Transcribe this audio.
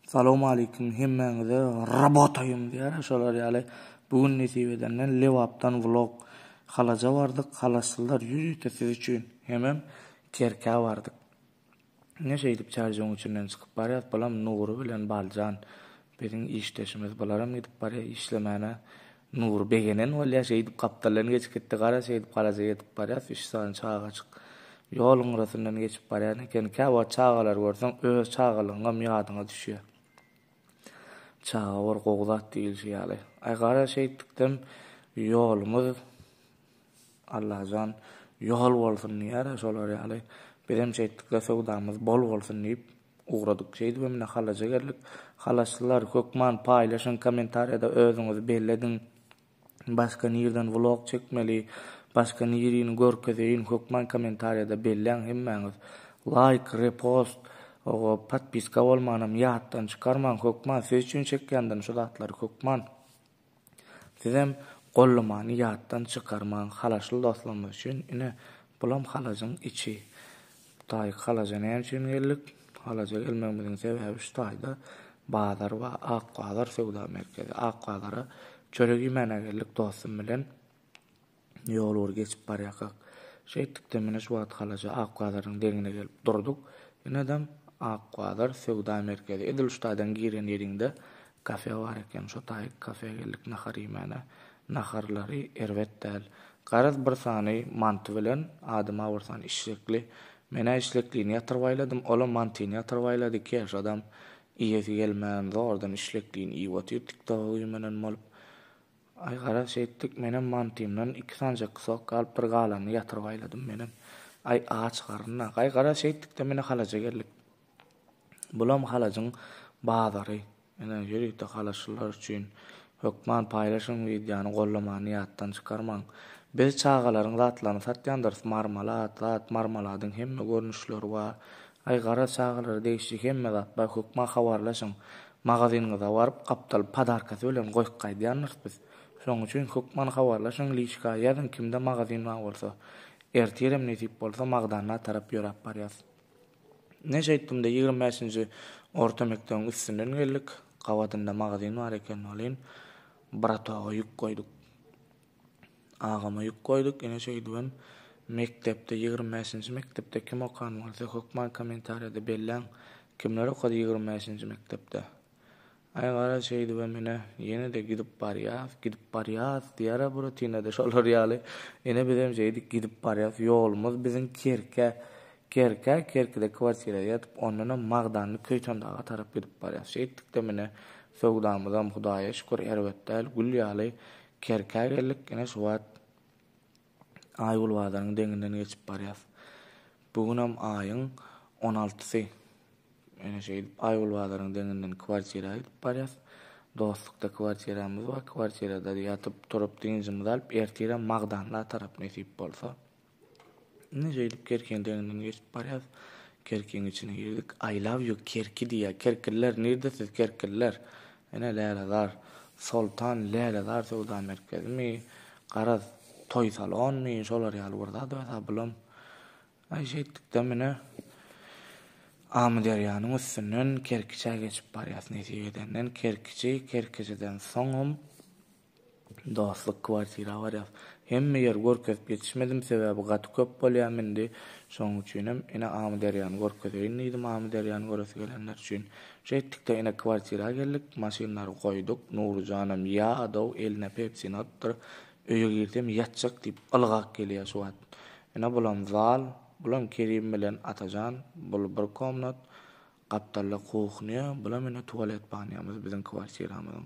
Salowmalikim hemmäňize rabotaýym diýýär şolar ýaly bu gün nesip edenden Lebapdan vlog Halaja bardyk halaslylar ýüz ýete siz üçin hemem Kerkä bardyk ine şeýdip çärjegiň üçinden çykyp barýas bulam Nury bilen Baljan biziň işdeşimiz bularam gidip barýa işlemäne Nury begenen bolýar, şeýdip gapdaldan geçip gitdi, gara şeýdip garaja ýetip barýas, üç sany çagajyk ýoluň gyrasyndan geçip barýan eken, kä wagt çagalary görseň öz çagalygyňam ýadyňa düşýär. Çaga bir gowy zat diýilişi ýaly. Aý gara şeýtdikdem ýolumyz Allajan ýol bolsun diýýär-ä şolar ýaly, bizem şeýtdikde söwdamyz bol bolsun diýip Ugradyk şeýdibem ine halaja geldik. Halaslylar hökman paýlaşyň kommentariýada özüňizi bellediň. Başga nirden vlog çekmeli, başga nirini görkezeýin hökman kommentariýada belläň hemmäňiz. Laýk, repost, owo podpiska bolmanam ýatdan çykarmaň hökman siz üçin çekýändirin şu zatlary hökman. Sizem gollamany ýatdan çykarmaň halaşly dostlarymyz üçin ine bulam halajyň içi taýy halaja näme üçin geldik halaja gelmegimiziň sebäbi şu taýda bazar bar ak bazar söwda merkezi ak bazara çörek iýmäne geldik dostum bilen Ýol bir geçip barýarkak, şeýtdikde mine şu wagt halaja Ak bazaryň deňine gelip durduk. Enedem, Ak bazar, söwda merkezi. Edil şu taýdan giren ýeriňde kafe bar eken. Şo taýy kafe geldik nahar iýmäne. Naharlary erbet däl. Garaz bir sany manty bilen, adyma bir sany işlekli. Men-ä işleklini ýatyrbaýladym, ol-a mantyny ýatyrbaýlady. Keşadam iýesi gelmän, zordan işleklini iýip otyr, tiktoga güýmenen bolup. Aý garaş etdik menem mantymdan iki sanjak sok galyp bir galanyny ýatyryp aýladym menem aý aç garynda gaý garaş etdikde mine halaja geldik bulam halajyň bazary ine ýörite halaşlylar üçin hökman paýlaşyň wideony gollamany ýatdan çykarmaň biz çagalaryň zatlaryny satýandyrys marmalat zat marmaladyň hemme görnüşleri bar Aý gara çagalara degişli hemme zat bar hökman habarlaşyň. Magazynyňyza baryp gapdalyp padarkasy bilen goýup gaýdýarmys biz. Şoň üçin hökman habarlaşyň liçka ýazyň kimde magazyn bar bolsa. Ertirem nesip bolsa Magdanna tarap ýöräp barýas. Ine şeýtdimde ýigrimi bäşinji orta mekdebiň üstünden geldik. Gabadynda magazyn bar eken welin bratoga ýük goýduk. Agama ýük goýduk, ine şeýdibem mekdepde ýigrimi bäşinji mekdepde kim okan bolsa hökman kommentariýada belläň kimler okady ýigrimi bäşinji mekdepde. Aý gara şeýdibem ine ýene-de gidip barýas, gidip barýas diýara buratinada şolar ýaly ine bizem şeýdik gidip barýas ýolumyz biziň Kerkä Kerkä Kerkide kwartira ýatyp ondanam Magdanly Köýtendaga tarap gidip barýas şeýtdikdem ine söwdamyzam Hudaýa şükür erbet däl gül ýaly Kerkä geldik, ine şu wagt Aýgül bazaryň deňinden geçip barýas. Bu günem aýyň on altysy. Ine şeýdip Aýgül bazaryň deňinden kwartira gidip barýas. Dostlukda kwartiramyz bar, kwartirada ýatyp-turup dynjymyzy alyp ertirem Magdandaga tarap nesip bolsa. Indi şeýdip Kerkiň deňinden geçip barýas. Kerkiň içine girdik. I love you Kerki diýýär. Kerkililer nirde siz kerkililer? Ene Lälezar. Soltan Lälezar söwda merkezimi? Garaz, toý salonmy? Şolar ýaly bir zat öýdýär bulam. Aý şeýtdikde mine Amyderýanyň üstünden Kerkiçä geçip barýas. Nesip edenden Kerkiçi, Kerkiçiden soňam Dostluk kwartira barýas. Hemme ýeri görkezip ýetişmedim sebäbi gaty köp bolýam indi. Şoň üçinem ine Amyderýany görkezeýin diýdim Amyderýany göresi gelenler üçin. Şeýtdikde ine kwartira geldik. Maşynlary goýduk. Nuryjanam ýa dow eline pepsini atyp öýe girsem ýatjak diýip ylgap gelýär şu wagt. Ine bulam zal. Bulam Kerim bilen Atajan. Bul bir komnat. Gapdalda kuhnýa. Bulam ine tualet banýamyz biziň kwartiramyzyň.